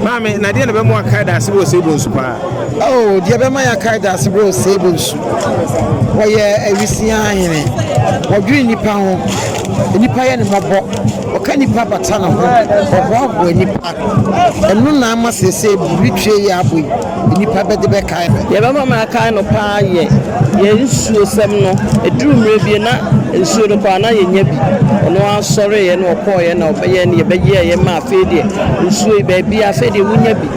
Maame, na deɛn na ɛbɛma wakae daase berɛ ɔsɛe bonsu paa? Oh, deɛ ɛbɛma yɛakae daase berɛ ɔsɛe bonsu. Wɔyɛ awisia hene. Wɔdwene nnipa ho. Nnipa yɛ ne mmɔbɔ. Ɔka nnipa bata ne ho. Ɔhoahoa nnipa. Ɛno na ama seesei biribi twe yɛ abɔ yi. nnipa bɛde bɛkae me. Deɛ ɛbɛma makae no pa ara yɛ yɛn nsuosɛm no. Ɛduru mmerɛ bi na nsuo no koraa na yɛnnya bi. Ɔno ara sɔreeɛ na ɔkɔeɛ na ɔbɛyɛɛ ne yɛbɛyɛeɛ ma afei deɛ nsuo yi baabiara afei deɛ wonya bi.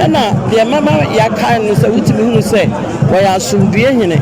Ɛna deɛ ɛbɛma yɛakae no sɛ wotumi hunu sɛ ɔyɛ asomdwoeɛ hene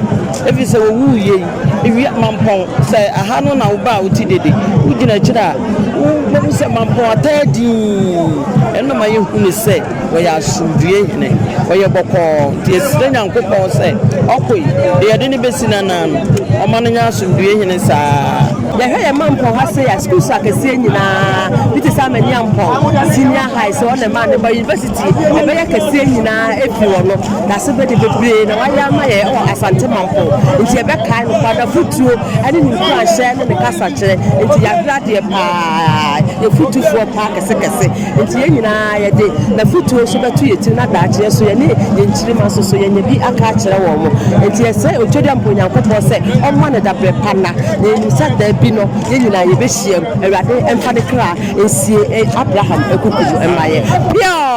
ɛfiri sɛ ɔwuiɛ yi ewia mampɔn sɛ aha no na woba a wote dede wogyina akyire a wobɛhu sɛ mampɔn ataa dinn ɛno na ma yɛhunu sɛ Wɔyɛ asomdwoeɛ hene, wɔyɛ bɔkɔɔ, nti yɛsrɛ Nyankopɔn sɛ ɔkoe deɛ yɛde no bɛsi n'anan no, ɔmma no nyɛ asomdwoeɛ hene saa ara. Yɛhwɛ yɛn mampɔn ha sei a, schools akɛseɛ nyinaa, bi te sɛ Amaniampɔn Senior High, sɛ hɔ na ɛmaa no ba university ɛbɛyɛ kɛseɛ nyinaa ɛfiri hɔ no, n'asebɛde bebree na wayɛ ama yɛn wɔ Asante mampɔn, nti yɛbɛkae no kwa, n'afotuo ɛne ne nkuranhyɛ ne ne kasakyerɛ nti, yɛabrɛ adeɛ pa ara, yɛ fotufoɔ pa kɛsekɛse. Enti yɛn nyinaa yɛde N'afotuo nso bɛto yɛn tiri na daakye yɛn nso yɛne yɛn nkyirimma nso so yɛnya bi aka akyerɛ wɔn. Enti yɛsrɛ Otwedeɛmpɔ Onyankopɔn sɛ ɔmma no daberɛ pa nna, na yɛnim sɛ da bi no yɛn nyinaa yɛbɛhyiam. Awurade mfa ne kra nsie Abraham akuku mu mma yɛn. Peaw!